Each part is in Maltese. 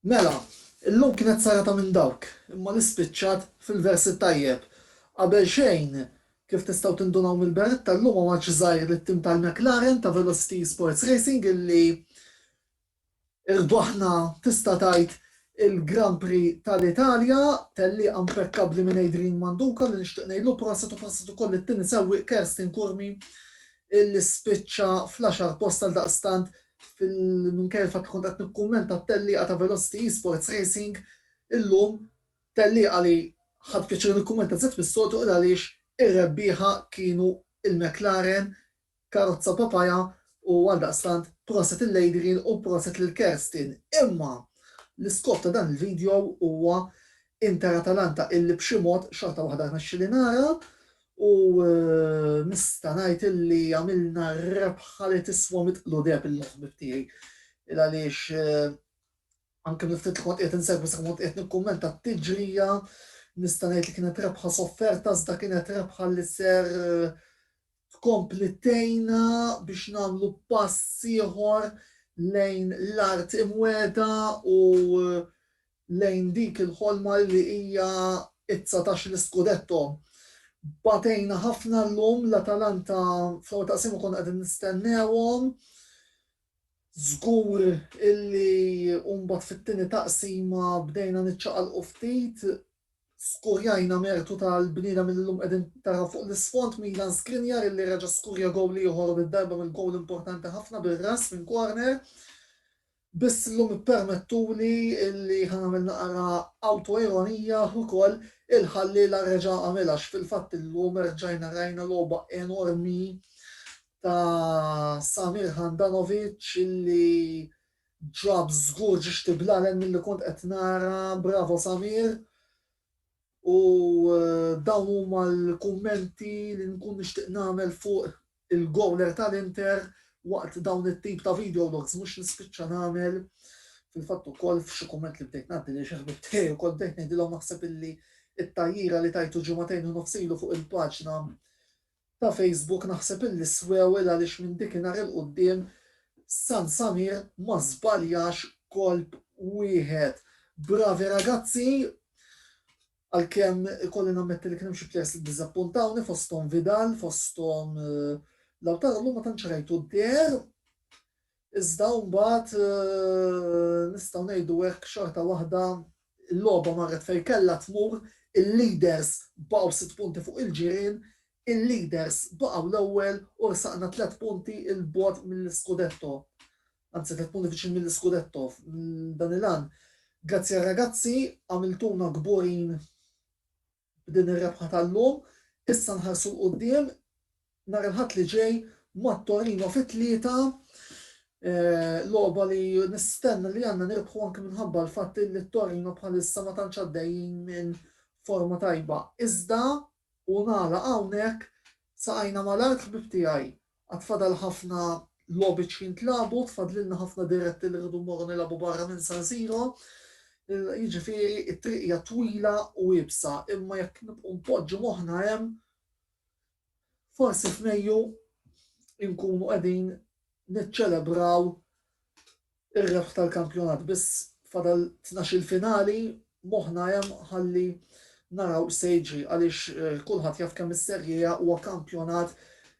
Mela, illum kienet serata minn dawk, imma li spiċċat fil-vers it-tajjeb. Qabelxejn, kif tistgħu tindunaw mill-berretta, illum omaġġ żgħir lit-tim tal-McLaren ta' Velocity Sports Racing illi rbaħna tista' tgħid il-Grand Prix tal-Italja, tellieqa mpekkabbli minn Adrian Manduca li nixtieq ngħidlu prosit u prosit ukoll lit-tieni sewwieq Kersten Curmi illi spiċċa fl-għaxar post għaldaqstant Minkejja l-fatt li kont qed nikkummenta t-tellieqa ta' Velocity Esports Racing illum, tellieqa li ħadt pjaċir nikkummenta żied mis-soltu il għaliex ir-rebbieħa kienu l-McLaren karozza Papaya u għaldaqstant proset lil Adrian u proset lil Kerstin. Imma l-iskop ta' dan il-video huwa Inter Atalanta illi b'xi mod xorta waħda rnexxieli nara U nista' ngħid illi għamilna rebħa li tiswa mitt qludeb il-ħbieb tiegħi. Il-għaliex anke mill-ftit li kont qiegħed insegwi sa kont qiegħed nikkummenta t-tiġrija, nista' ngħid li kienet rebħa sofferta iżda kienet rebħa li ser tkompli tejna biex nagħmlu pass ieħor lejn l-art imweda u lejn dik il-ħolma li hija t-dsatax l-iskudetto. Batejna ħafna llum, l-Atalanta fl-ewwel taqsima konna qegħdin nistennewhom, żgur illi u mbagħad fit-tieni taqsima bdejna niċċaqalqu ftit, skurjajna mertu tal-bniedem illi llum qegħdin taraw fuq l-isfond, Milan Skriniar illi reġa' skurja gowl ieħor u did-darba mill-gowl importanti ħafna bir-ras minn corner. Biss illum ippermettuli li ħa nagħmel naqra awtoironija ukoll, il-ħalliela reġa' għamilha għax fil-fatt illum erġajna rajna logħba enormi ta' Samir Handanovic li ġab żgur ġixti bl-għallen milli kont qed nara, bravo Samir. U dawn huma l-kummenti li nkun nixtieq nagħmel fuq il-gowler tal-Inter waqt dawn it-tip ta' video logs mhux nispiċċa nagħmel. Fil-fatt ukoll f'xi kumment li bdejt ngħaddi lil xi ħbieb tiegħi wkoll bdejt ngħidilhom naħseb illi t-tgħajjira li tajtu ġimagħtejn u nofs ilu fuq il-paġna ta' Facebook naħseb illi swewil għaliex minn dikinhar il quddiem San Samir ma żbaljax kolp wieħed. Bravi ragazzi! Għalkemm ikolli nammetti li kien hemm xi players li ddiżappuntawni fosthom Vidal, fosthom Lautaro llum ma tantx rajtu deher. Iżda mbagħad nistgħu ngħidu hekk xorta waħda l-logħba marret fejn kellha tmur, il-leaders baqgħu sitt punti fuq il-ġirien, il-leaders baqgħu l-ewwel u rsaqna tliet punti 'l bogħod mill-iscudetto. Anzi tliet punti viċin mill-iscudetto dan il-għan. Grazzi għar-ragazzi, għamiltuna kburin B'din ir-rebħa tal-lum, issa nħarsu 'l quddiem nhar il-Ħadd li ġej mat-Torino fit-tlieta, logħba li nistenna li għandna nirbħu anke minħabba l-fatt li t-Torino bħalissa ma tantx għaddejjin minn forma tajba. Iżda, u nagħlaq hawnhekk, saqajna mal-art ħbieb tiegħi, Għad fadal ħafna logħbiet x'jintlagħbu, tfadlilna ħafna diretti li rridu mmorru nilagħbu barra minn San Siro. Jiġifieri t-triq hija twila u iebsa, imma jekk nibqgħu npoġġu moħħna hemm, forsi f'Mejju nkunu qegħdin niċċelebraw Ir-rebħ tal-kampjonat biss fadal tnax-il finali, moħħna hemm ħalli naraw x'se jiġri għaliex kulħadd jaf kemm is-Serie A huwa kampjonat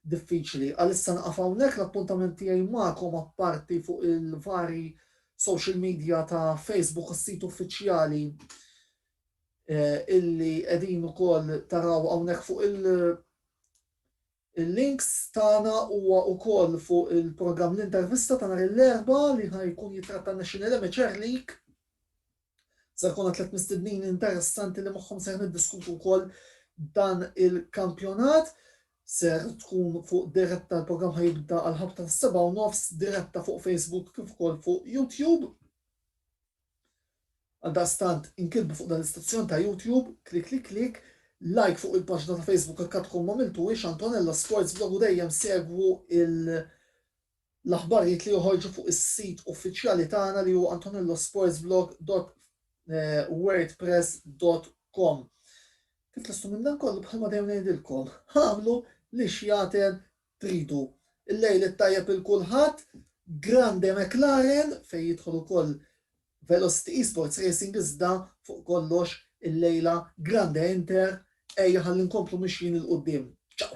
diffiċli. Għalissa nieqaf hawnhekk, l-appuntament tiegħi magħkom apparti fuq il-vari social media ta' Facebook u s-sit uffiċjali illi qegħdin ukoll taraw hawnhekk fuq il- Il-links tagħna huwa wkoll fuq il-programm L-Intervista ta' nhar il-Erbgħa li ħa jkun jittratta Nexxin Irimi Ċer Lik. Se jkollna tliet mistednin interessanti li magħhom ser niddiskutu wkoll dan il-kampjonat. Ser tkun fuq diretta l-programm ħa jibda għall-ħabta tas-sebgħa u nofs diretta fuq Facebook kif ukoll fuq YouTube. Għaldaqstant, inkitbu fuq dan l-istazzjon ta' YouTube, klikliklik, like fuq il-paġna ta' Facebook jekk għadkom m'għamiltuhiex Antonella Sports Blog u dejjem segwu l-aħbarijiet li joħorġu fuq is-sit uffiċjali tagħna li hu antonellosportsblog.wordpress.com. Kif lesttu minn dan kollu, bħalma dejjem ngħidilkom, agħmlu li xjaten tridu. Il-lejl it-tajjeb il kulħadd, Grande McLaren fejn jidħol ukoll Velocity Esports Racing iżda fuq kollox illejla Grande Inter, ejja ħalli nkomplu mixjin il quddiem. Ciao!